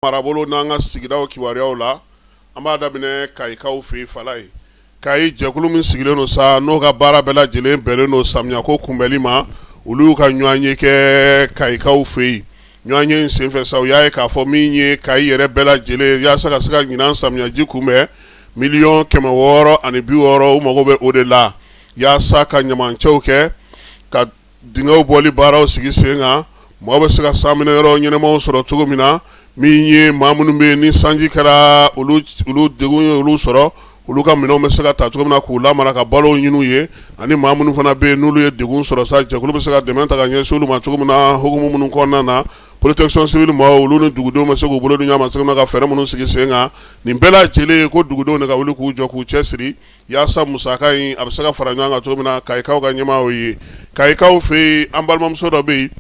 marabolo n'an ka sigidaw kibaruyaw la an b'a daminɛ kayikaw fɛ falaye kayi jɛkulu min sigilen don sa n'o ka baara bɛɛ lajɛlen bɛnnen don samiya ko kunbɛnli ma olu ka ɲɔgɔnye kɛ kayikaw fɛ yen ɲɔgɔnye senfɛ sa u y'a ye k'a fɔ min ye kayi yɛrɛ bɛɛ lajɛlen yaasa ka se ka ɲinan samiyaji kunbɛn miliyɔn kɛmɛ wɔɔrɔ ani bi wɔɔrɔ u mago bɛ o de la yaasa ka ɲamancɛw kɛ ka dingɛw bɔli baaraw sigi sen kan mɔgɔ bɛ se ka sanminɛyɔrɔ ɲɛnamaw sɔrɔ cogo min na min ye maa minnu bɛ yen ni sanji kɛra olu degun ye olu sɔrɔ olu ka minɛnw bɛ se ka ta cogo min na k'u lamara ka balo ɲini u ye ani maa minnu fana bɛ yen n'olu ye degun sɔrɔ sa jɛkulu bɛ se ka dɛmɛ ta ka ɲɛsin olu ma cogo min na hukumu minnu kɔnɔna na protection civile maaw olu ni dugudenw bɛ se k'u bolo di ɲɔgɔn ma ka fɛɛrɛ minnu sigi sen kan nin bɛɛ lajɛlen ye ko dugudenw de ka wuli k'u jɔ k'u cɛ siri yaasa musaka in a bɛ se ka fara ɲɔgɔn kan cogo min na kayikaw ka ɲɛmaaw ye kayikaw fɛ yen an balimamuso dɔ bɛ yen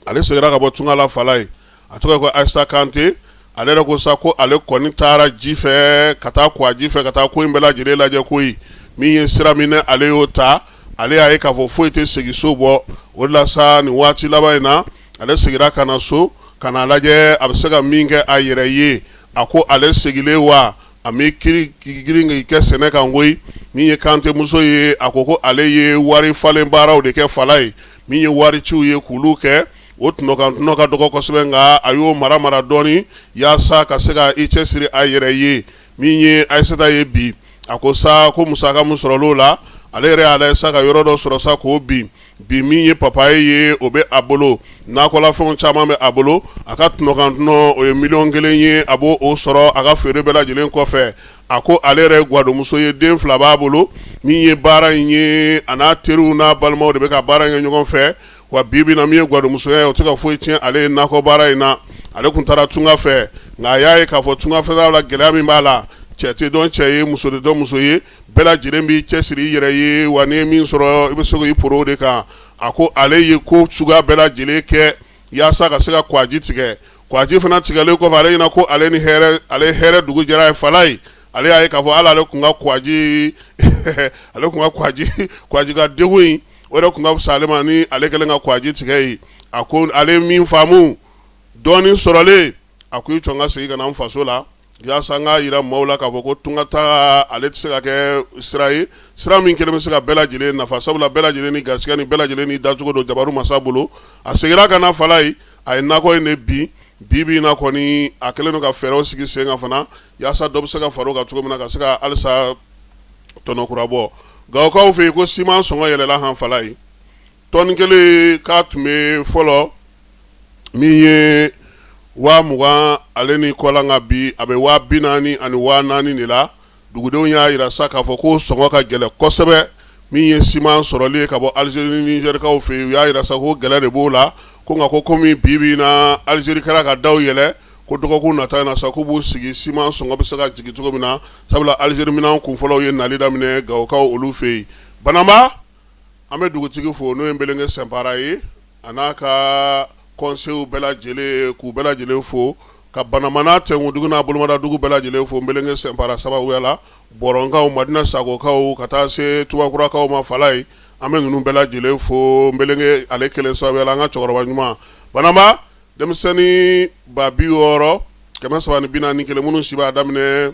ale seginna ka bɔ tunga la falaye a tɔgɔ ko ayisata kante ale yɛrɛ ko sa ko ale kɔni taara ji fɛ ka taa kwaji fɛ ka taa ko in bɛɛ lajɛlen lajɛ koyi min ye sira min ale y'o ta ale y'a ye k'a fɔ foyi tɛ segin so bɔ o de la sa nin waati laban in na ale seginna ka na so ka na lajɛ a bɛ se ka min kɛ a yɛrɛ ye a ko ale seginnen wa a bɛ k'i girin kɛ sɛnɛ kan koyi min ye kantemuso ye a ko ko ale ye wari falen baaraw de kɛ falaye min ye wariciw ye k'olu kɛ o tɔnɔ kan tɔnɔ ka dɔgɔ kosɛbɛ nka a y'o mara mara dɔɔnin yaasa ka se ka i cɛ siri a yɛrɛ ye min ye ayisata ye bi a ko sa ko musaka min sɔrɔla o la ale yɛrɛ y'a lajɛ sa ka yɔrɔ dɔ sɔrɔ sa k'o bin Bi min ye papaye ye o bɛ a bolo nakɔlafɛn caman bɛ a bolo a ka tɔnɔ kan tɔnɔ o ye miliyɔn kelen ye a b'o sɔrɔ a ka feere bɛɛ lajɛlen kɔfɛ a ko ale yɛrɛ gadonmuso ye den fila b'a bolo min ye baara in ye a n'a teriw n'a balimaw de bɛ ka baara kɛ ɲɔgɔn fɛ wa bi bi in na min ye gadonmusoya ye o tɛ ka foyi tiɲɛ ale ye nakɔ baara in na ale tun taara tunga fɛ nka a y'a ye k'a fɔ tungafɛtaa la gɛlɛya min b'a la cɛ tɛ dɔn cɛ ye muso tɛ dɔn muso ye bɛɛ lajɛlen b'i cɛ siri i yɛrɛ ye wa n'i ye min sɔrɔ i bɛ se k'i poron o de kan a ko ale ye ko suguya bɛɛ lajɛlen kɛ yaasa ka se ka kwaji tigɛ kwaji fana tigɛlen kɔfɛ ale ɲɛna ko ale ni ale hɛrɛ dugu jɛra ye falaye ale y'a ye k'a fɔ ala ale tun ka kwaji ale tun ka kwaji ka degun in o de tun ka fisa ale ma ni ale kɛlen ka kwaji tigɛ ye a ko ale min faamu dɔɔnin sɔrɔlen a ko i jɔ n ka segin ka na n faso la yaasa n k'a yira maaw la k'a fɔ ko tunga taa ale tɛ se ka kɛ sira ye sira min kelen bɛ se ka bɛɛ lajɛlen nafa sabula bɛɛ lajɛlen ni garisɛgɛ ni bɛɛ lajɛlen ni dacogo don jabaru masa bolo a seginna ka na falaye a ye nakɔ in de bin bi bi in na kɔni a kɛlen don ka fɛɛrɛw sigi sen kan fana yaasa dɔ bɛ se ka fara o kan cogo min na ka se ka halisa tɔnɔ kura bɔ gawokaw fɛ yen ko siman sɔngɔ yɛlɛla han falaye tɔni kelen k'a tun bɛ fɔlɔ min ye waa mugan ale ni kɔ la nka bi a bɛ waa bi naani ani waa naani de la dugudenw y'a jira sa k'a fɔ ko sɔngɔ ka gɛlɛn kosɛbɛ min ye siman sɔrɔli ye ka bɔ alizeri ni nizɛrikaw fɛ yen u y'a jira sa ko gɛlɛya de b'o la ko nka ko kɔmi bi bi in na alizeri kɛra ka daw yɛlɛ ko dɔgɔkun nata in na sa k'u b'u sigi siman sɔngɔ bɛ se ka jigin cogo min na sabula alizeri minan kun fɔlɔw ye nali daminɛ gawokaw olu fɛ yen banamba an bɛ dugutigi fo n'o ye nbɛlɛnkɛ sɛnpara ye a n'a ka kɔnseyiw bɛɛ lajɛlen k'u bɛɛ lajɛlen fo ka banamba n'a cɛ dugu n'a bolomada dugu bɛɛ lajɛlen fo nbɛlɛnkɛ sɛnpara sababuya la bɔrɔnkaw madina sagokaw ka taa se tubakurakaw ma falayi an bɛ ninnu bɛɛ lajɛlen fo nbɛlɛnkɛ ale kelen sababuya la an ka cɛkɔrɔba ɲuman banamba denmisɛnnin ba bi wɔɔrɔ kɛmɛ saba ni bi naani ni kelen minnu si b'a daminɛ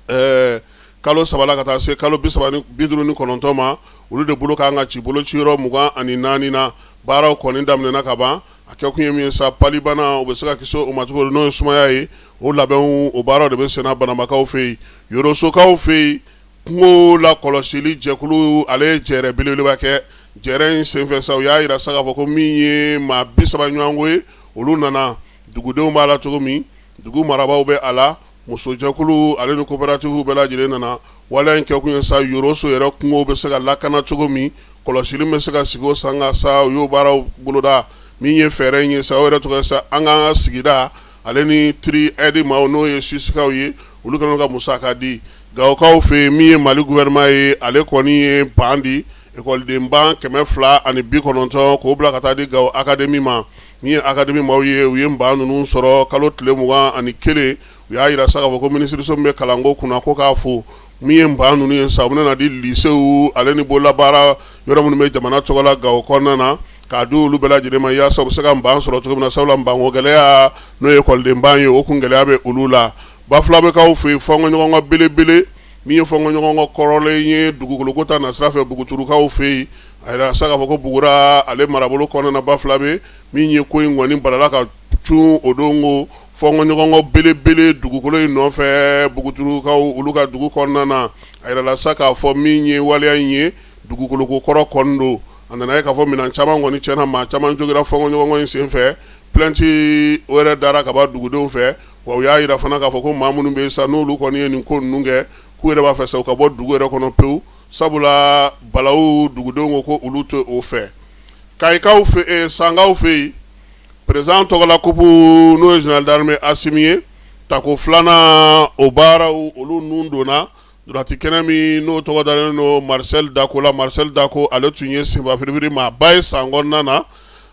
ɛɛ kalo saba la ka taa se kalo bi duuru ni kɔnɔntɔn ma olu de bolo ka kan ka ci bolociyɔrɔ mugan ani naani na baaraw kɔni daminɛna ka ban a kɛ kun ye min ye sa palibana u bɛ se ka kisi o ma cogo n'o ye sumaya ye o labɛnw o baaraw de bɛ senna banambakaw fɛ yen yorosokaw fɛ yen kungo lakɔlɔsili jɛkulu ale ye jɛrɛ belebeleba kɛ jɛrɛ in senfɛ sa u y'a jira sa k'a fɔ ko min ye maa bi saba ɲɔgɔnko ye olu nana dugudenw b'a la cogo min dugu marabaaw bɛ a la Musojɛkulu ale ni coopératives bɛɛ lajɛlen nana waleya in kɛ kun ye sa Yoroso yɛrɛ kungo bɛ se ka lakana cogo min, kɔlɔsili bɛ se ka sigi o sen kan sa, u y'o baaraw boloda min ye fɛɛrɛ in ye sa, o yɛrɛ tɔgɔ ye sa an k'an ka sigida ale ni Tree Aid maaw n'o ye Suwisikaw ye, olu kɛlen don ka musaka di Gawokaw fɛ yen min ye Mali gouvernement ye, ale kɔni ye ban di ekɔlidenban kɛmɛ fila ani bi kɔnɔntɔn k'o bila ka taa di Gawo akademi ma. Min ye akademi maaw ye u ye ban ninnu sɔrɔ kalo tile mugan ani kelen u y'a jira sa k'a fɔ ko minisiriso min bɛ kalanko kunna ko k'a fo min ye ban ninnu ye sa u bɛna di lisew ale ni bolola baara yɔrɔ minnu bɛ jamana tɔgɔ la Gawo kɔnɔna na k'a di olu bɛɛ lajɛlen ma yaasa u se ka ban sɔrɔ cogo min na sabula banko gɛlɛya n'o ye ekɔlidenban ye o kun gɛlɛya bɛ olu la Bafulabekaw fɛ yen fɔɲɔgɔnkɔ belebele min ye fɔɲɔgɔnkɔ kɔrɔlen ye dugukoloko ta nasira fɛ Buguturukaw fɛ yen a jirala sa k'a fɔ ko bugura ale marabolo kɔnɔna na bafulabe min ye ko in kɔni balala ka cun o don ko fɔɲɔgɔnkɔ belebele dugukolo in nɔfɛ buguturukaw olu ka dugu kɔnɔna na a jirala sa k'a fɔ min ye waleya in ye dugukoloko kɔrɔ kɔni don a nana ye k'a fɔ minɛn caman kɔni cɛnna maa caman jogira fɔɲɔgɔnkɔ in sen fɛ plɛnti o yɛrɛ dara kaban dugudenw fɛ wa y'a jira fana k'a fɔ ko maa minnu bɛ yen sa n'olu kɔni ye nin ko ninnu kɛ k'u yɛrɛ b'a fɛ sa u ka bɔ dugu yɛrɛ kɔnɔ pewu Sabula balaw dugudenw ko olu tɛ o fɛ kayikaw fɛ sankaw fɛ yen perezidan tɔgɔla kup n'o ye zenerali darame asimi ye tako filanan o baaraw olu ninnu donna dulati kɛnɛ min n'o tɔgɔ dalen don marisɛli dako la marisɛli dako ale tun ye senba firibiri maa ba ye san kɔnɔna na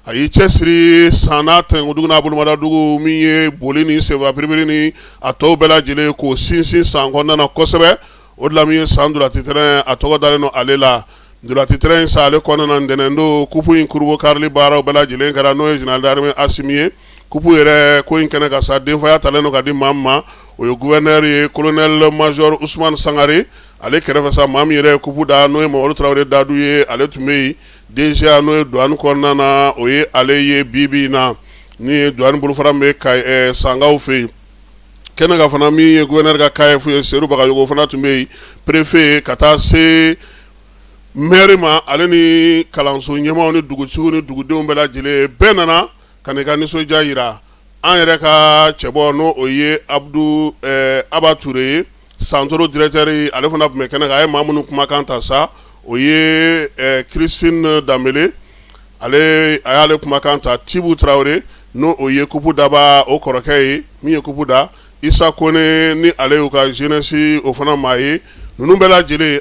a y'i cɛ siri san n'a tɛnkudugu n'a bolomadadugu min ye boli ni senba firibiri ni a tɔw bɛɛ lajɛlen k'o sinsin san kɔnɔna kosɛbɛ o de la min ye san dulati tɛrɛn a tɔgɔ dalen don ale la dulati tɛrɛn in sa ale kɔnɔna ntɛnɛn don kup in kurubonkarili baaraw bɛɛ lajɛlen kɛra n'o ye zenerali darame asimi ye kup yɛrɛ ko in kɛnɛ kan sa denfaya talen don ka di maa min ma o ye gofɛrɛnɛri ye kolonɛ mazori usmani sangare ale kɛrɛ fɛ sa maa min yɛrɛ kup da n'o ye mamadu tarawele dadu ye ale tun bɛ yen DGA n'o ye duwani kɔnɔna na o ye ale ye bi bi in na ni ye duwani bolofara min bɛ sankaw fɛ yen kɛnɛ kan fana min ye gofɛrɛnɛri ka CAEF ye seyidu bagayogo fana tun bɛ yen perefe ye ka taa se mɛri ma ale ni kalanso ɲɛmaaw ni dugutigi ni dugudenw bɛɛ lajɛlen bɛɛ nana ka n'i ka nisɔndiya jira an yɛrɛ ka cɛbɔ n' o ye abudu aba ture ye Santoro direkitɛri ale fana tun bɛ kɛnɛ kan a ye maa minnu kumakan ta sa o ye kirisitini danbele ale a y'ale kumakan ta tibu tarawele n'o o ye kup dabaa o kɔrɔkɛ ye min ye kup da isa kɔnɛ ni ale y'u ka zenɛsi o fana maa ye ninnu bɛɛ lajɛlen